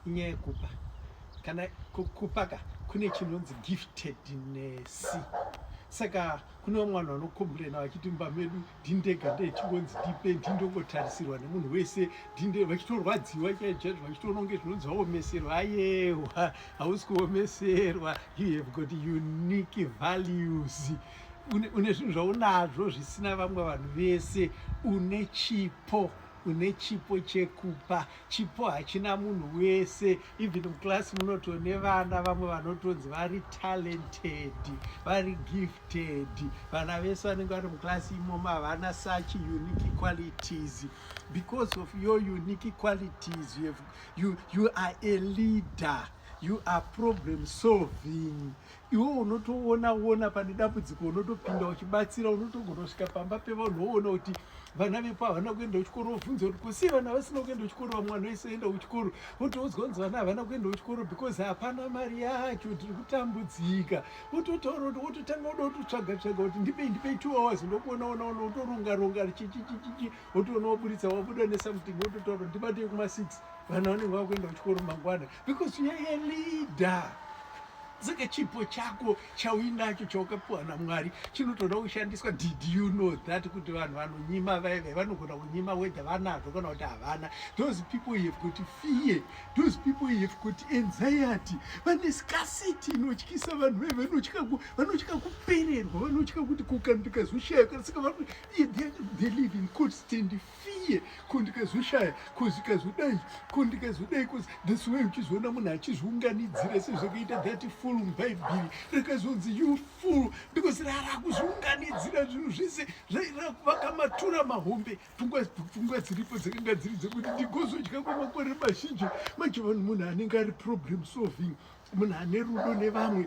inyaya yekupa kana kupaka kune chinonzi giftedness saka kune vamwe vanhu vanokomburena vachiti mumba medu ndindega ndechingonzi ndipe ndindongotarisirwa nemunhu wese ndinde vachitorwadziwa chaizvaizvo vachitononge zvinonzi vaomeserwa ayewa hausi kuomeserwa you have got unique values une zvinhu zvaunazvo zvisina vamwe vanhu vese une chipo une chipo chekupa chipo hachina munhu wese even muclass munotone vana vamwe vanotonzi vari talented vari gifted vana vese vanenge vari muclass imomo havana such unique qualities because of your unique qualities you, have, you, you are a leader you are problem solving iwe unotoona ona pane dambudziko unotopinda uchibatsira unotogona kusvika pamba pevanhu woona kuti vana vepo havana kuenda kuchikoro wobvunza kuti kusi vana vasina kuenda kuchikoro vamwana wese oenda kuchikoro wotoudzwa kunzi vana havana kuenda kuchikoro because hapana mari yacho tiri kutambudzika wototaura kuti wototanga uda kutotsvaga tsvaga kuti ndipei ndipei two hours ndokuona ona ona wotoronga ronga chichichichichi wotoona waburitsa wabuda nesamting wototaura kuti ndibatei kuma six vana vanenge vakuenda kuchikoro mangwana because you are a leader saka chipo chako chauinacho chaukapiwa namwari chinotoda kushandiswa did you know that kuti vanhu vanonyima vaive vanogona kunyima whether vanazvo kana kuti havana those people have kuti fear those people have kuti anxiety vane scarcity inotyisa vanhu vaive vanotya kupererwa vanotya kuti kukanduka zvoshayaka saka they live in constant fear ko ndikazvishaya ko zvikazodai ko ndikazodai ko this way uchizoona munhu achizviunganidzira sezvakaita that full mubhaibheri rakazonzi you full because rarakuzviunganidzira zvinhu zvese zvairakuva matura mahombe pfungwa dziripo dzakanga dziri dzekuti ndigozodya kwemakore mazhinji manje vanhu munhu anenge ari problem solving munhu ane rudo nevamwe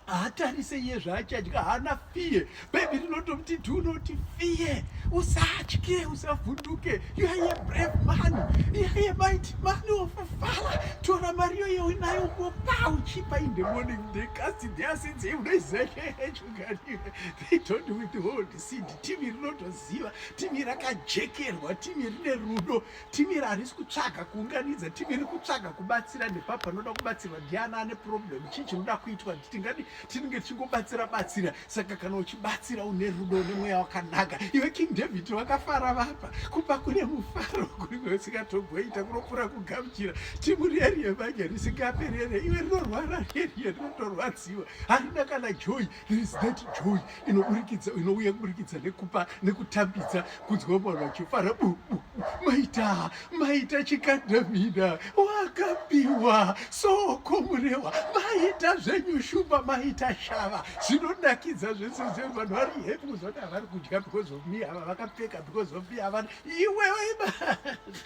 haatarise iye zvaachadya haana fiye bhaibhi rinotomuti do not fear usatye usavhunduke you are a brave man you are a mighty man of father tora mari yoyo unayo mopa uchipa in the morning they cast their sins unaizaeechuganiwe they don't withhold seed timi rinotoziva timi rakajekerwa timi rine rudo Timi iri harisi kutsvaga kuunganidza, timi iri kutsvaga kubatsira nepa panoda kubatsirwa ndiana ane problem, chii chinoda kuitwa, tingadi tinenge tichingobatsira batsira. Saka kana uchibatsira une rudo une mweya wakanaka, iwe King David wakafara vapa kupa kune mufaro kune usingatogoita kunopfuura kugamuchira. Timu riye riye manje risingaperi riye, iwe rinorwara riye riye rinotorwadziwa, harina kana joy, there is that joy inoburikidza inouya kuburikidza nekupa nekutambidza kunzwa vanhu vachifara bubu maita maita chikandamina wakapiwa soko murehwa maita zvenyu shumba maita shava zvinonakidza zvese zve vanhu vari happy kuzoti havari kudya because of me ava vakapfeka because of me havana iwewe